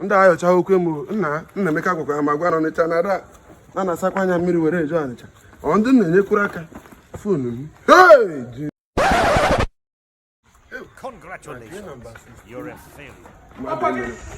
ndị ayọcha okwu emu nna Nnaemeka gwakwara m agwa n'Ọnịcha na ada na a na-asakwa anya mmiri were eje Ọnịcha ọ ndị na-enyekwuru aka fonu m Congratulations. You're a failure.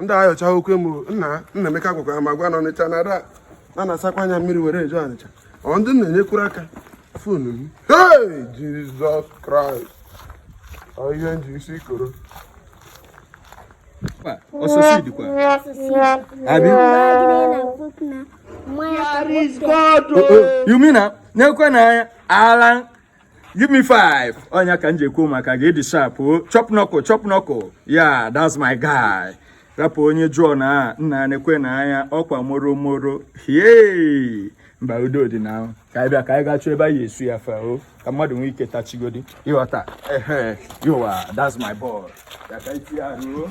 ndị ayọcha okwu emu nna Nnaemeka gwakwa m agwa na Ọnịcha na ada na a na-asakwa anya mmiri were eje Ọnịcha ọ ndị na-enyekwuru aka fonu m hey Jizọs Kraịst ọ ihe m ji isi koro osisi dịkwa abi you mean na na-ekwe na anya ala give me five ọ nya ka m ji ekwu maka gị ị dị sharp o chop knuckle chop knuckle yeah that's my guy rapụ onye John nna nekwe na anya ọkwa moro moro hie mba udo dị na ahụ ka anyị bịa ka anyị gaa chọọ ebe anyị suya fa o ka mmadụ nwee ike tachigodi ị ghọta ehe yowa that's my boy ya ka anyị tinye arụ o